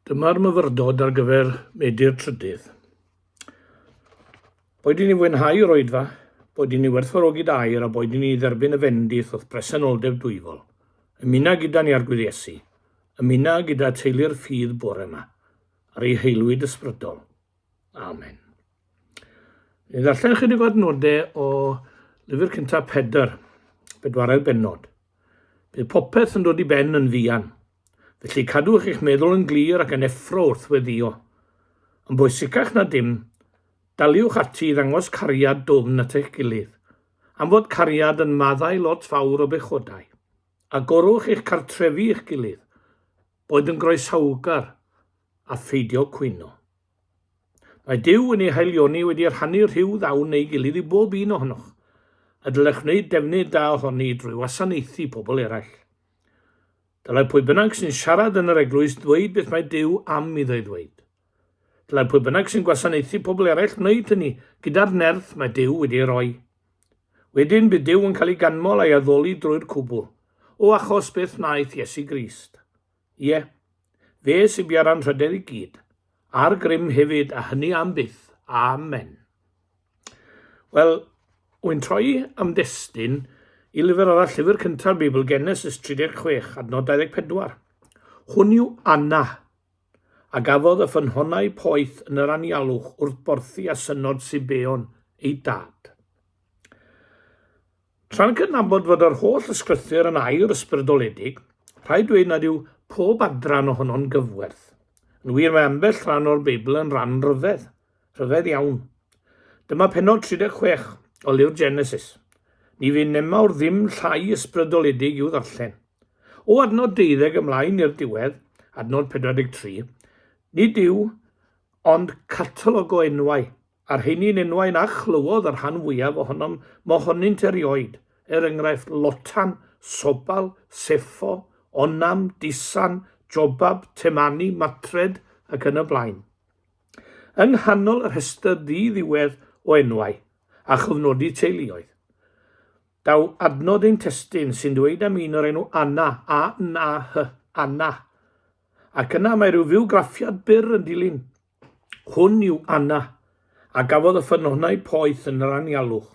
Dyma'r myfyrdod ar gyfer medi'r trydydd. Boed i ni fwynhau yr oedfa, boed i ni werthfawrogi da air a boed i ni dderbyn y fendith wrth bresenoldeb dwyfol. Ymuno gyda ni ar Gwyddesu. Ymuno gyda teulu'r ffydd bore yma, ar ei heilwyd ysbrydol. Amen. Ni ddarllen ychydig o adnodau o lyfr cyntaf Pedr, bedwaredd benod. Bydd popeth yn dod i ben yn fuan, felly cadwch eich meddwl yn glir ac yn effro wrth weddïo. Yn bwysicach na dim, daliwch ati i ddangos cariad dwfn at eich gilydd, am fod cariad yn maddau lot fawr o bechodau. Agorwch eich cartrefi i'ch gilydd, boed yn groesawgar a pheidio cwyno. Mae Duw yn ei haelioni wedi rhannu rhyw ddawn ei gilydd i bob un ohonoch, a dylech wneud defnydd da ohoni drwy wasanaethu pobl eraill. Dylai pwy bynnag sy'n siarad yn yr eglwys ddweud beth mae Duw am iddo ei ddweud. Dylai pwy bynnag sy'n gwasanaethu pobl eraill wneud hynny gyda'r nerth mae Duw wedi ei roi. Wedyn bydd Duw yn cael ei ganmol a'i addoli drwy'r cwbl, o achos beth wnaeth Iesu Grist. Ie, fe sy bia'r anrhydedd i gyd, a'r grym hefyd, a hynny am byth. Amen. Wel, wy'n troi am destun i lyfr arall, llyfr cynta'r Beibl, Genesis 36, adnod 24. Hwn yw Anna, a gafodd y ffynhonnau poeth yn yr anialwch wrth borthi a synod Sibeon, ei dad. Tra'n cydnabod fod yr holl ysgrythur yn air ysbrydoledig, rhaid dweud nad yw pob adran ohono'n gyfwerth. Yn wir, mae ambell ran o'r Beibl yn ran rhyfedd, rhyfedd iawn. Dyma pennod 36 o lyfr Genesis. Ni fydd nemawr ddim llai ysbrydoledig i'w ddarllen. O adnod deuddeg ymlaen i'r diwedd, adnod 43, nid yw ond catalog o enwau A'r rheini'n enwau na chlywodd y rhan fwyaf ohonom mohonynt erioed, er enghraifft, Lotan, Sobal, Seffo, Onam, Disan, Jobab, Temani, Matred, ac yn y blaen. Yng nghanol y rhestr ddi-ddiwedd o enwau a chofnodi teuluoedd, daw adnod ein testun sy'n dweud am un o'r enw Anna, A-N-A-H, Anna, ac yna mae rhyw fywgraffiad byr yn dilyn. Hwn yw Anna, a gafodd y ffynonau poeth yn yr anialwch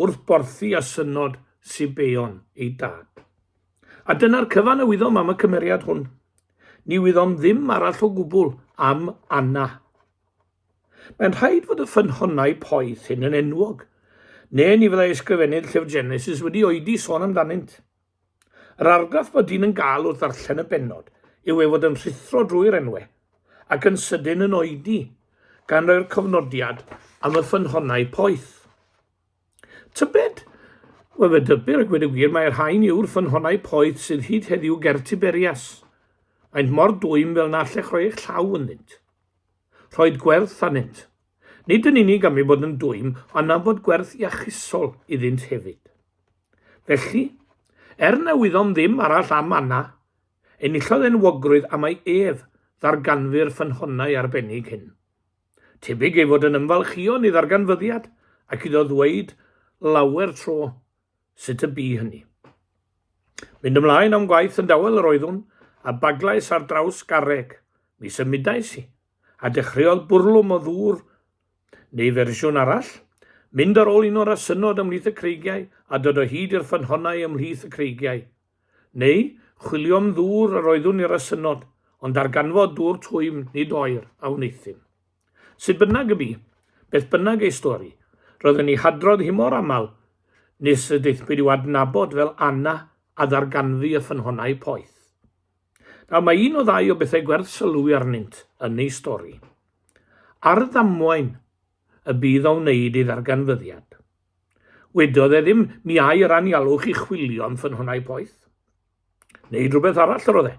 wrth borthi a synod Sibeon ei dad. A dyna'r cyfan a wyddom am y cymeriad hwn. Ni wyddom ddim arall o gwbl am Anna. Mae'n rhaid fod y ffynhonnau poeth hyn yn enwog, neu ni fyddai ysgrifennydd Llyfr Genesis wedi oedi sôn amdanynt. Yr argraff bod dyn yn gael wrth ddarllen y bennod yw ei fod yn rhuthro drwy'r enwau, ac yn sydyn yn oedi, gan roi'r cofnodiad am y ffynhonnau poeth. Tybed? Wel, fe dybir a gweud y gwir, mae'r rhain yw'r ffynhonnau poeth sydd hyd heddiw ger Tiberias. Maent mor dwym fel na allech roi eich llaw ynddynt. Rhoed gwerth anynt. Nid yn unig am ei bod yn dwym, ond am fod gwerth iachusol iddynt hefyd. Felly, er na wyddom ddim arall am Anna, enillodd enwogrwydd am ei ef ddarganfu'r ffynhonnau arbennig hyn. Tebyg ei fod yn ymfalchïon ei ddarganfyddiad ac iddo ddweud lawer tro sut y bu hynny. Mynd ymlaen am gwaith yn dawel yr oeddwn, a baglais ar draws garreg. Mi symudais i, a dechreuodd bwrlwm o ddŵr Neu fersiwn arall, mynd ar ôl un o'r asynod ymhlith y creigiau a dod o hyd i'r ffynhonnau ymhlith y creigiau. Neu, chwilio am ddŵr yr oeddwn i'r asynod, ond darganfod dŵr twym, nid oer, a wneuthum. Sut bynnag y bu, beth bynnag ei stori, roedd yn ei hadrodd hi mor aml nes y daethpwyd i'w adnabod fel Anna a ddarganfu y ffynhonnau poeth. Nawr mae un o ddau o bethau gwerth sylwi arnynt yn ei stori. Ar ddamwain y bydd o wneud ei ddarganfyddiad. Wedodd e ddim mi ai yr anialwch chi chwilio am ffynhonnau poeth. Neud rhywbeth arall yr oedd e,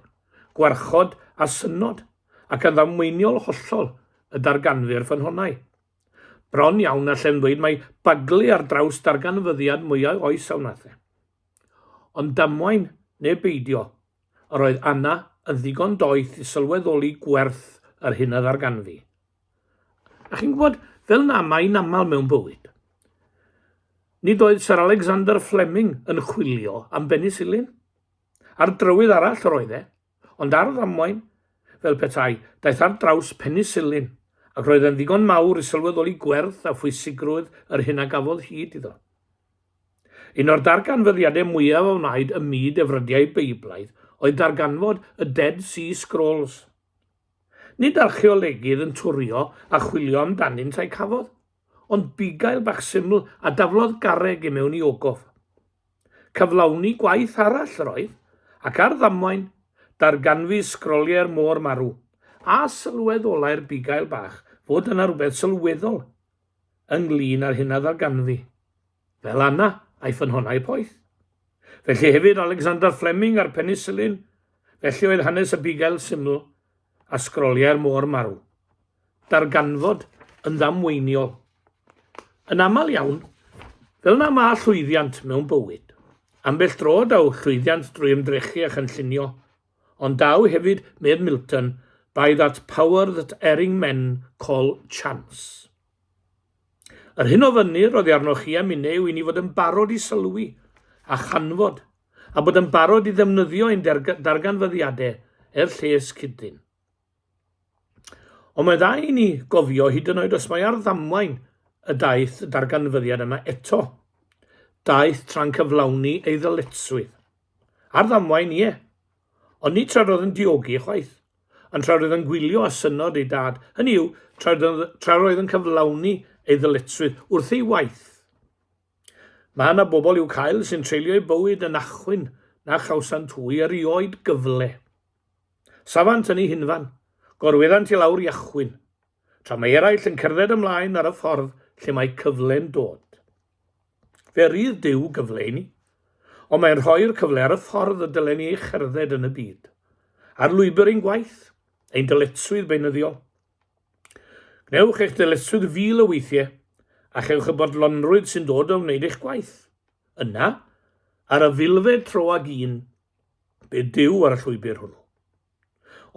gwarchod a synod ac yn ddamweiniol hollol y darganfu'r ffynhonnau. Bron iawn allem ddweud mae baglu ar draws darganfyddiad mwyau oes a wnaeth e. Ond damwain neu beidio, Yr oedd Anna yn ddigon doeth i sylweddoli gwerth yr hyn a ddarganfu. A chi'n gwybod, fel na mae yn aml mewn bywyd, nid oedd Sir Alexander Fleming yn chwilio am benisilin. Ar drywydd arall yr oedd e, ond ar ddamwain, fel petai, daeth ar draws penisilin, ac roedd e'n ddigon mawr i sylweddoli gwerth a phwysigrwydd yr hyn a gafodd hyd iddo. Un o'r darganfyddiadau mwyaf a wnaed ym myd efrydiaeth Beiblaidd oedd darganfod y Dead Sea Scrolls. Nid archeolegydd yn twrio a chwilio amdanynt a'u cafodd, ond bugail bach syml a daflodd garreg i mewn i ogof. Cyflawni gwaith arall yr oedd, ac ar ddamwain, darganfu sgroliau'r Môr Marw, a sylweddolai'r bugail bach fod yna rhywbeth sylweddol ynglŷn â'r hyn a ddarganfu, fel Anna a'i ffynhonnau poeth. Felly hefyd Alexander Fleming a'r penisilin, felly oedd hanes y bugail syml a sgroliau'r môr marw. Darganfod yn ddamweiniol. Yn aml iawn, fel na mae llwyddiant mewn bywyd, ambell dro daw llwyddiant drwy ymdrechu a chynllunio, Ond daw hefyd, medd Milton, by that power that erring men call chance. Yr hyn o fynnir oddi arnoch chi a minne yw i ni fod yn barod i sylwi a chanfod, a bod yn barod i ddefnyddio ein darganfyddiadau er lles cyd-ddyn. Ond mae dda i ni gofio, hyd yn oed os mae ar ddamwain y daeth y darganfyddiad yna eto, daeth tra'n cyflawni ei ddyletswydd. Ar ddamwain, ie. Ond nid tra roedd yn diogi, chwaith. Ond tra roedd yn gwylio â synod ei dad, hynny yw, tra roedd yn cyflawni ei ddyletswydd wrth ei waith. Mae yna bobl i'w cael sy'n treulio eu bywyd yn achwyn na chawsant hwy erioed gyfle. Safant yn eu hunfan, gorweddant i lawr i achwyn, tra mae eraill yn cerdded ymlaen ar y ffordd lle mae cyfle'n dod. Fe rydd Duw gyfle i ni, ond mae'n rhoi'r cyfle ar y ffordd y dylen ni ei cherdded yn y byd, ar lwybr ein gwaith, ein dyletswydd beunyddiol, Gwnewch eich dyletswydd fil o weithiau a chewch y bodlonrwydd sy'n dod o wneud eich gwaith. Yna, ar y filfed tro ag un, be dyw ar y llwybr hwnnw?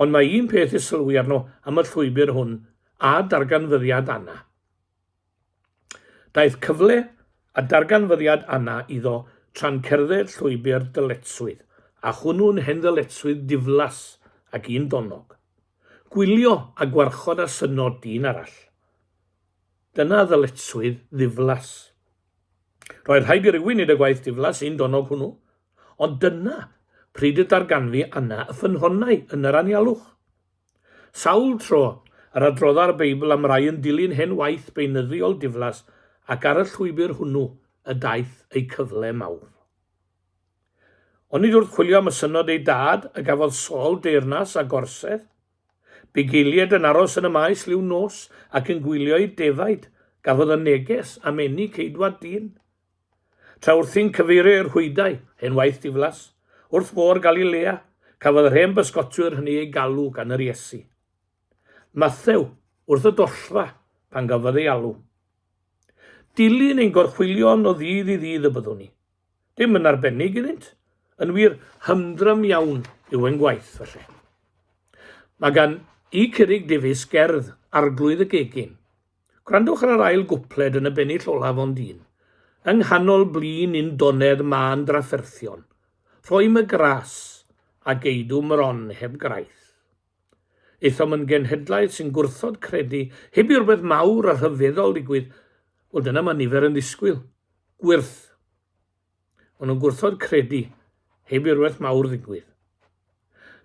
Ond mae un peth i sylwi arno am y llwybr hwn a darganfyddiad Anna. Daeth cyfle a darganfyddiad Anna iddo tra'n cerdded llwybr dyletswydd, a hwnnw'n hen ddyletswydd diflas ac un donnog. Gwylio a gwarchod a synno dyn arall. Dyna ddyletswydd ddiflas. Roedd rhaid i rywun wneud y gwaith diflas un donnog hwnnw, ond dyna pryd y darganfu Anna y ffynhonnau yn yr anialwch. Sawl tro yr adrodda'r Beibl am rai yn dilyn hen waith beunyddiol diflas ac ar y llwybr hwnnw y daeth eu cyfle mawr. Onid wrth chwilio am y synnod ei dad y gafodd Saul deyrnas a gorsedd? Bugeilied yn aros yn y maes liw nos ac yn gwylio i defaid, gafodd y neges am eni ceidwad dyn. Tra wrthi'n cyfeirio i'r rhwydau, hen waith diflas, wrth Fôr Galilea, cafodd yr hen bysgotwyr hynny eu galw gan yr Iesu. Mathew, wrth y dollfa, pan gafodd ei alw. Dilyn ein gorchwylion o ddydd i ddydd y byddwn ni. Dim yn arbennig iddynt. Yn wir, hymdrym iawn yw ein gwaith, felly. Mae gan i Curig Davies gerdd Arglwydd y Gegin, Gwrandwch ar yr ail gwpled yn y bennill olaf ond un. Yng nghanol blin un donedd mân drafferthion. Rhoim y gras, a geidw mron heb graith. Aethom yn genhedlaeth sy'n gwrthod credu heb i rhywbeth mawr a rhyfeddol ddigwydd, wel dyna mae nifer yn ddisgwyl. Gwyrth. Ond nhw'n gwrthod credu, heb i rywbeth mawr ddigwydd.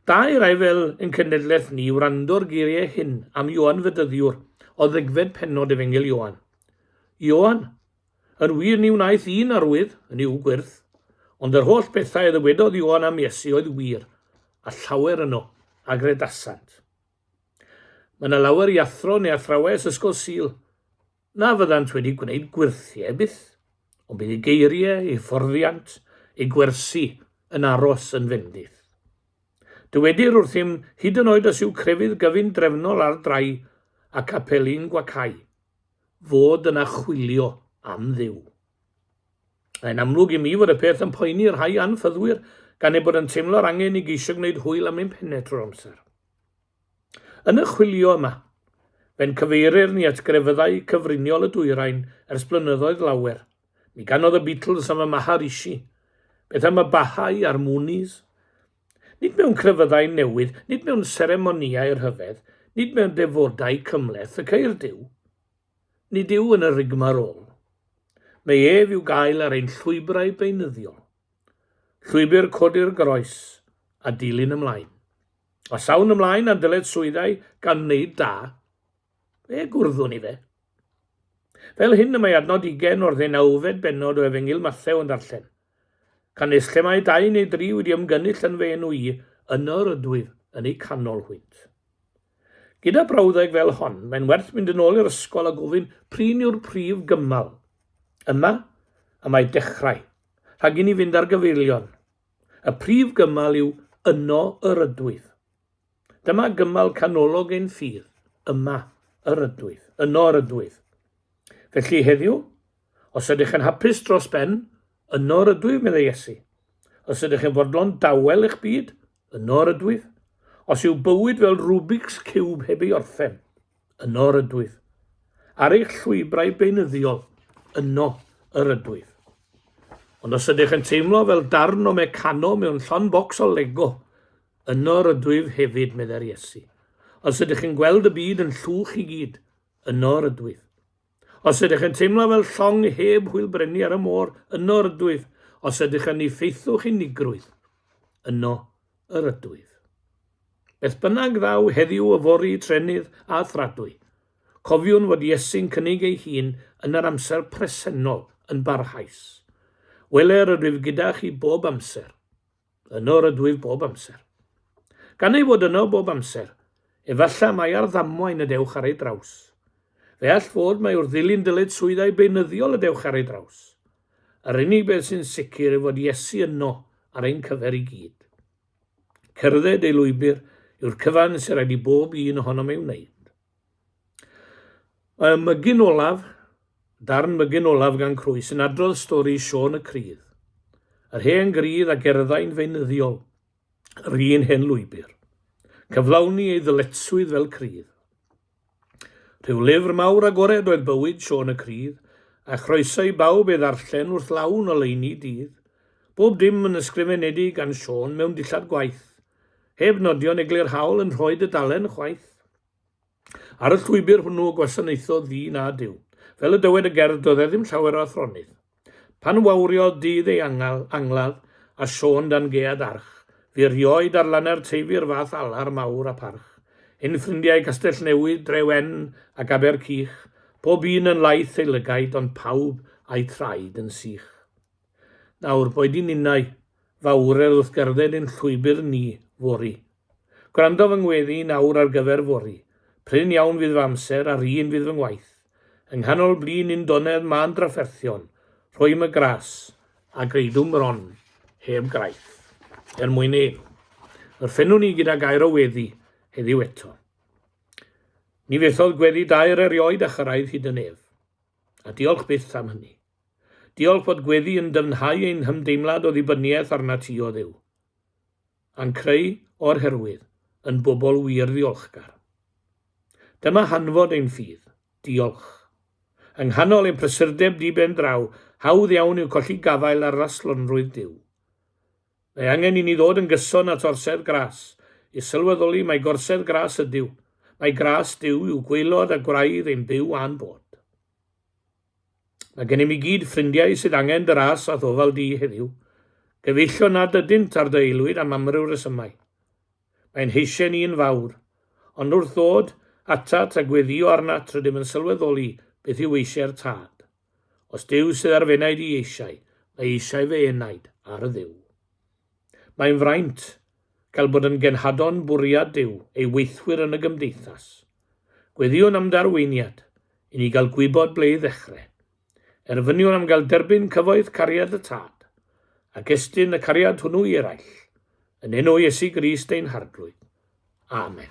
Da i rai fel yn cenedlaeth ni wrando'r geiriau hyn am Ioan Fedyddiwr o ddegfed pennod Efengyl Ioan. Ioan, yn wir ni wnaeth un arwydd yn i'w gwyrth, ond yr holl bethau y ddywedodd Ioan am Iesu oedd wir, a llawer yno, a gredasant. Mae yna lawer i athro neu athrawes Ysgol Sul na fyddant wedi gwneud gwyrthiau byth, ond bydd eu geiriau, eu fforddiant, eu gwersi yn aros yn fendith. Dywedir wrthym hyd yn oed os yw crefydd gyfun drefnol ar drai ac apeli'n gwacau, fod yna chwilio am dduw. Mae'n amlwg i mi fod y peth yn poeni rhai anffyddwyr gan eu bod yn teimlo'r angen i geisio gwneud hwyl am ein pennau trwy'r amser. Yn y chwilio yma, fe'n cyfeirir ni at grefyddau cyfriniol y dwyrain ers blynyddoedd lawer. Mi ganodd y Beatles am y Maharishi. Beth am y Baha'i a'r Moonies? Nid mewn crefyddau newydd, nid mewn seremonïau rhyfedd, nid mewn defodau cymhleth y ceir Duw. Nid yw yn y rigmarole. Mae ef i'w gael ar ein llwybrau beunyddiol. Llwybr codi'r groes a dilyn ymlaen. A llawn ymlaen a'n dyled swyddau gan wneud da, fe gwrddwn i fe. Fel hyn y mae adnod ugen o'r ddeunawfed bennod o Efengyl Mathew yn darllen. Canys lle mae dau neu dri wedi ymgynnull yn fy enw i, yno yr ydwyf yn eu canol hwynt. Gyda brawddeg fel hon, mae'n werth mynd yn ôl i'r ysgol a gofyn prin yw'r prif gymal. Yma y mae dechrau, rhag i ni fynd ar gyfeillion. Y prif gymal yw Yno yr ydwyf. Dyma gymal canolog ein ffydd, Yma yr ydwyf, Yno yr ydwyf. Felly heddiw, os ydych yn hapus dros ben, Yno yr ydwyf, meddai Iesu. Os ydych yn fodlon dawel eich byd, Yno yr ydwyf. Os yw bywyd fel Rubik's Cube heb ei orffen, yno yr ydwyf. Ar eich llwybrau beunyddiol, yno yr ydwyf. Ond os ydych yn teimlo fel darn o mecano mewn llon bocs o lego, yno yr ydwyf hefyd, meddai'r Iesu. Os ydych yn gweld y byd yn llwch i gyd, yno yr ydwyf. Os ydych yn teimlo fel llong heb hwyl brynu ar y môr, yno yr ydwyf. Os ydych yn ni faethwch unigrwydd, yno yr ydwyf. Beth bynnag ddaw heddiw o fori trenydd a thradwy, cofiwn fod Iesu'n cynnig ei hun yn yr amser presennol yn barhaus. Wele yr ydwyf gyda chi bob amser. Yno rydw i bob amser. Gan ei fod yno bob amser, efallai mai ar ddamwain y dewch ar ei draws. Fe all fod mai wrth ddilyn dyletswyddau beunyddiol y dewch ar ei draws. Yr unig beth sy'n sicr yw fod Iesu yno ar ein cyfer i gyd. Cerdded ei lwybr yw'r cyfan sy'n rhaid i bob un ohonom ei wneud. Y mygyn olaf, darn mygyn olaf gan Crwy sy'n adrodd stori Siôn y Crydd. Yr hen grydd a gerddai'n feunyddiol yr un hen lwybr. Cyflawni ei ddyletswydd fel crydd. Rhyw lyfr mawr agored oedd bywyd Siôn y Crydd, a chroeso i bawb ei ddarllen wrth lawn o leini dydd. Bob dim yn ysgrifenedig gan Siôn mewn dillad gwaith, Heb nodion eglurhaol yn rhoi dudalen chwaith. Ar y llwybr hwnnw gwasanaethodd ddyn a Duw. Fel y dywed y gerdd doedd e ddim llawer o athronydd. Pan wawriodd dydd ei angal, angladd, a Siôn dan gead arch, fu erioed ar lane'r Teifi yr fath alar mawr a pharch. Ein ffrindiau Castellnewydd, Drewen, ac Abercych, pob un yn laith ei lygaid ond pawb a'u traed yn sych. Nawr, boed i ninnau, fa wrel wrth gerdded ein llwybr ni, fory. Gwrando fy ngweddi i nawr ar gyfer fory. Prin iawn fydd fy amser, a'r un fydd fy ngwaith. Yng nghanol blin undonedd mân drafferthion, rhoim y gras, a greidwm bron heb graith, er mwyn ein. Yr ffenwn ni gyda gair o weddi, heddiw eto. Ni fethodd gweddi dair erioed a chyrraedd hyd yn ef. A diolch byth am hynny. Diolch fod gweddi yn dyfnhau ein hymdeimlad o ddibyniaeth arnat ti, o Dduw. A'n creu, o'r herwydd, yn bobl wir ddiolchgar. Dyma hanfod ein ffydd. Diolch. Yng nghanol ein prysurdeb di-ben draw, hawdd iawn yw colli gafael ar raslonrwydd Duw. Mae angen i ni ddod yn gyson at orsedd gras, i sylweddoli mai gorsedd gras ydyw, mai gras Duw yw gwaelod a gwraidd ein byw a'n bod. Mae gennym i gyd ffrindiau sydd angen dy ras a'th ofal di heddiw. Gyfeillion nad ydynt ar dy aelwyd am amryw resymau. Mae'n heisen i yn fawr. Ond wrth ddod atat a gweddio arnat rydym yn sylweddoli beth yw eisiau'r Tad. Os Duw sydd ar f'enaid i eisiau, mae eisiau fy enaid ar y Dduw. Mae'n fraint gael bod yn genhadon bwriad Duw ei weithwyr yn y gymdeithas. Gweddïwn am ddarweiniad, i ni gael gwybod ble i ddechrau. Erfyniwn am gael derbyn cyfoeth cariad y Tad, ac estyn y cariad hwnnw i eraill, yn enw Iesu Grist ein Harglwydd. Amen.